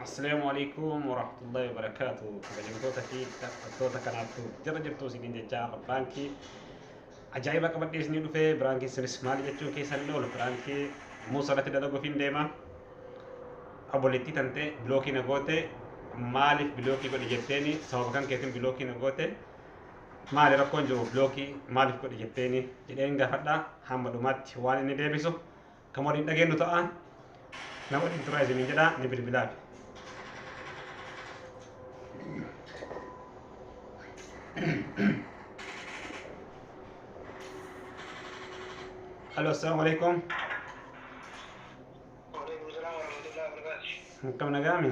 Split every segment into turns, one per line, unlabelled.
Assalaamu alaikum warahmatullahi wabarakaatu. Kabajamtoota fi dhaggeeffattoota kanaaf jala jirtu isiniin jechaa baankii ajaa'iba qabadhee isinii dhufee biraankiin sinis maal jechuu keessan hin oolu biraankii muusa irratti dalaguuf hin deema. Obboleettii tantee bilookii na goote maaliif bilookii godhe jetteeni sababa kan keetiin bilookii na goote maali rakkoon jiru bilookii maaliif godhe jetteeni jedheen gaafadha hamma dhumaatti waan inni deebisu Kan waliin dhageenyu ta'a. Na waliin turaa isiniin jedha ni bilbilaaf. Halo, assalamu alaikum.
Waalaikum salaam warahmatullahi wabarakatuh. Akkam nagaami?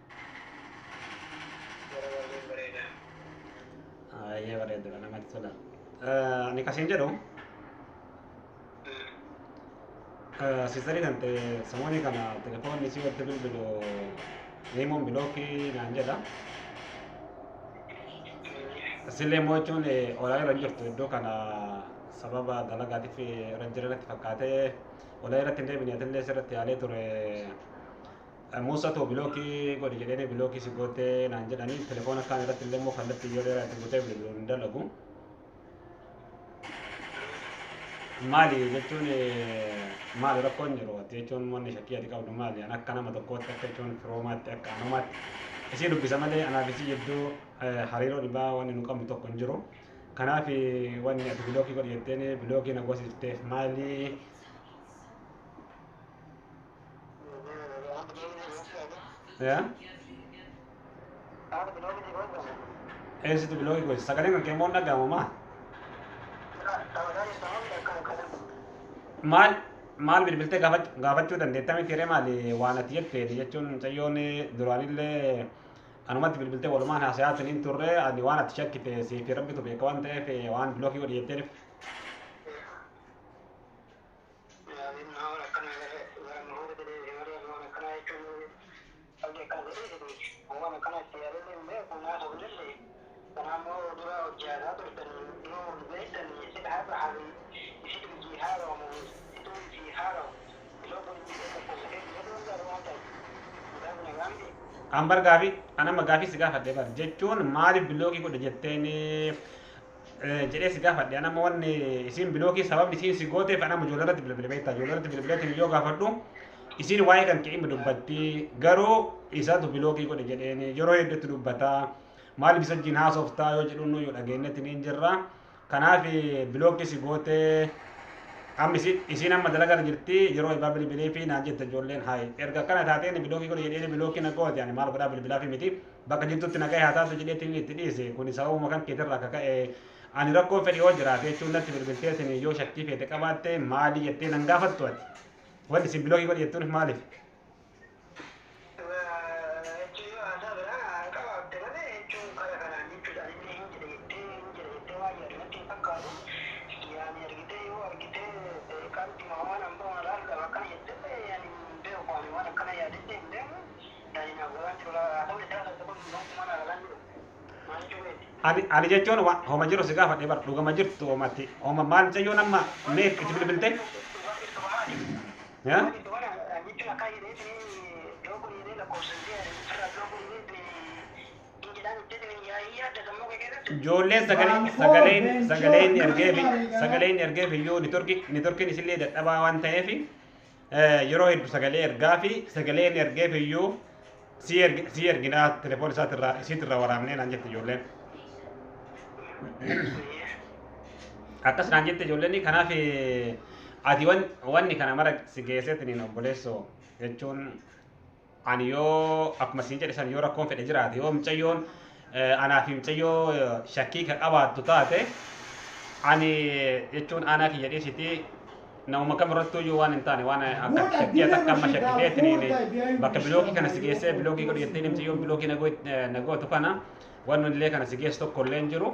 Yeroo baay'ee bareeda. Baay'ee bareedudha namatti tola. Eh, Ani kasiin jedhu eh, sistarii kan ta'e samoonii kana telefoonni si walitti bilbilu himuun bilookii naan jedha. Sillee immoo jechuun eh, olaa irra hin jirtu iddoo kana sababa dalagaatiif eh, irra jira natti fakkaatee olaa irratti hin deebine atillee sirratti yaalee ture Muussatu bilookii godhi jedheenii bilookii si goottee naan jedhanii telefoona kaan irratti illee immoo kallattiin yoo dheeraa itti butee bilbiluun hin dalagu. Maali jechuun maali rakkoon jiru ati jechuun wanni shakkii ati qabdu maali an akka nama tokkootti akka jechuun firoomaatti akka anumaatti isii dubbisa malee anaaf isii jidduu hariiroo dhibaa wanni nu qabnu tokko hin jiru. Kanaaf wanni ati bilookii godhi jetteen bilookii na goosifteef maali Ya? Eessatti biloogii gosa? Sagaleen kan keemmoo dhaga'amu maa? Maal maal bilbiltee gaafach- gaafachuu dandeetta miti ree maali waan ati jetteeti jechuun mucayyoon duraanillee anumatti bilbiltee walumaan haasayaa siniin turre ani waan ati shakkite siif rabbitu beeka waan ta'eef waan biloogii godhi jetteef An bar gaafii an amma gaafii si gaafadhe bar jechuun maaliif bilookii godhe jetteen jedhee si gaafadhe anamma wanni isiin bilookii sababni isiin si gooteef anamma ijoollee irratti bilbile beektaa ijoollee irratti bilbileetiin yoo gaafadhu isiin waa'ee kan ka'ima dubbatti garuu isaatu bilookii godhe jedheen yeroo hedduutti dubbata maaliif isa wajjin haasoftaa yoo jedhu nuyyuu dhageenyetti niin jirra kanaaf bilookii si gootee amma isiin isiin amma dalagaa jirti yeroo ibaa bilbilee fi naan jette ijoolleen haayi erga akkana taateen bilookii godhe jedheen bilookii na goote ani maal godhaa bilbilaa fi miti bakka jirtutti nagaya haa taatu jedheetiin itti dhiise kuni sababuma kan keetirraa akka ka'e ani rakkoo fedhi yoo jiraate jechuun natti bilbilteetiin yoo shakkii feete qabaatte maalii jettee nan gaafattu ati wanti isin biloogii godhe jettuun maaliif ani ani jechuun wa- homa jiru si gaafadhe bar dhugama jirtu homatti homa maal jayyoon amma mee itti bilbilte yaa ijoolleen sagalee sagaleen sagaleen ergeefi sagaleen ergeefi iyyuu nitorki nitorkiin isillee dadhabaa waan ta'eefi Eh, yeroo heddu sagalee ergaa fi sagalee inni ergeef iyyuu sii erg- sii erginaa telefoon isaatirraa isiitirraa waraabnee naan jette ijoolleen. Akkas naan jette ijoolleen kanaaf eh, ati wan- wanni kana mara si geesseetiin obboleessoo jechuun Ani yoo akkuma siin jedhe san yoo rakkoon fedhe jiraate yoo micayyoon anaa fi micayyoo shakkii ka qabaattu taate ani jechuun aanaa kiyya dhiisiti namuma kam irrattuu iyyuu waan hin taane waan akka shakkii takka amma shakkiteetiin bakka bilookii kana si geessee bilookii godhu jettee micayyoon bilookii nagootu kana waan illee kana si geessu tokko illee hin jiru.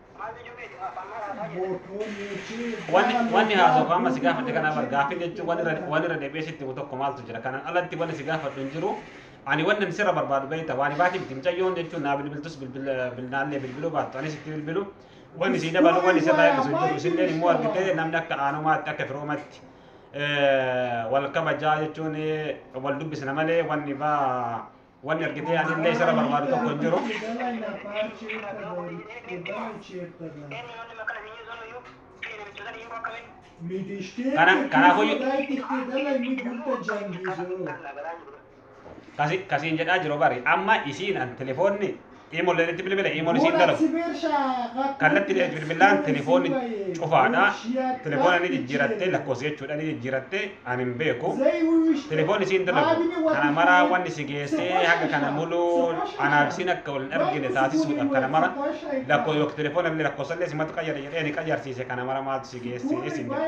Wanni wanni haasawaa amma si gaafadhe kana bar gaaffii jechuun waan irra waan irra deebi'ee sitti himu tokko maaltu jira kanaan alatti wanni si gaafadhu hin jiru ani wanni ani sirra barbaadu beekta waan baati miti mucayyoon jechuun naa bilbiltus bilbila bilnaallee bilbiluu baattu anis itti bilbilu wanni si dabalu wanni sirraa eebbisu hin jiru isinleen immoo argitee namni akka aanumaatti akka firoomatti wal kabajaa jechuun wal dubbisna malee wanni baa Wanni argitee anillee isarra barbaadu tokko hin jiru. Kana kanaafuu kasi kasiin jedhaa jiru bari amma isiin an telefoonni Iimolleen itti bilbile iimoon isiin dalagu. Kallattiin itti bilbilaan telefoonni cufaadha. Telefoona ni jijjiirattee lakkoofsa jechuudha ni jijjiirattee an hin beeku. Telefoonni isiin dalagu kana maraa wanni si geessee haga kana muluu anaaf isiin akka wal hin argine taasisuudhaaf kana mara lakkoo yookiin telefoona illee lakkoofsa illee simatu qayyare jedhee ni qayyarsiise kana mara maaltu si geessee isin jedha.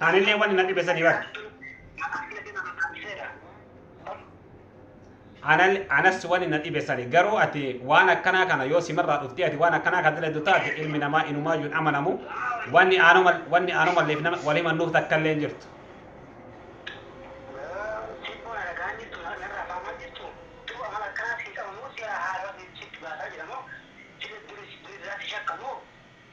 Anillee wanni na dhibe sanii bar. Anal anas wanni na dhibe sani garuu ati waan akkanaa kana yoo simarraa dhuftee ati waan akkanaa kana dalagdu taate ilmi namaa inumaa yuun amanamu wanni aanuma wanni aanumalleef nama wal himannuuf takka illee hin jirtu.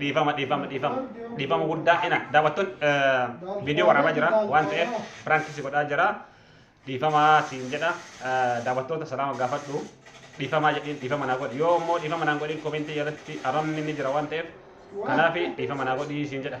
dhiifama dhiifama dhiifama dhiifama guddaa ina daawwattoon viidiyoo waraabaa jira waan ta'eef piraankii si godhaa jira dhiifama siin jedha daawwattoota salaama gaafadhu dhiifama jedhiin dhiifama naa godhi yoo immoo dhiifama naan godhiin komentii jalatti arrabni ni jira waan ta'eef kanaaf dhiifama naa godhi siin jedha.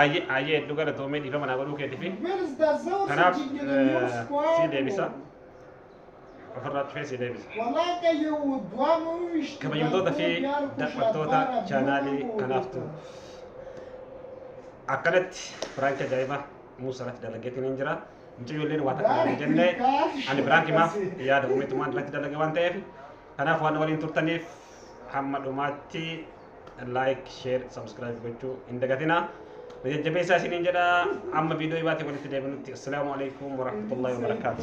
Ayyee ayyee hedduu galatoomee dhiifama naa godhuu keetiif. Kanaaf si deebisa. Ofirraa cufee si deebisa. Kabajamtoota fi daawwattoota chaanaalii kanaaf tu. Akkanatti Firaanki ajaa'ibaa Muusaa irratti dalageetiin hin jira. Mucayyoo illee waa takka hin jenne ani Firaanki maaf yaada uumetumaan irratti dalage waan ta'eef kanaaf waan waliin turtaniif hamma dhumaatti like share subscribe gochuu hin dagatinaa na jajjabeessaa isiniin jedha amma viidiyoo ibaatee walitti deebinutti assalaamu alaikum warahmatullahi wabarakaatu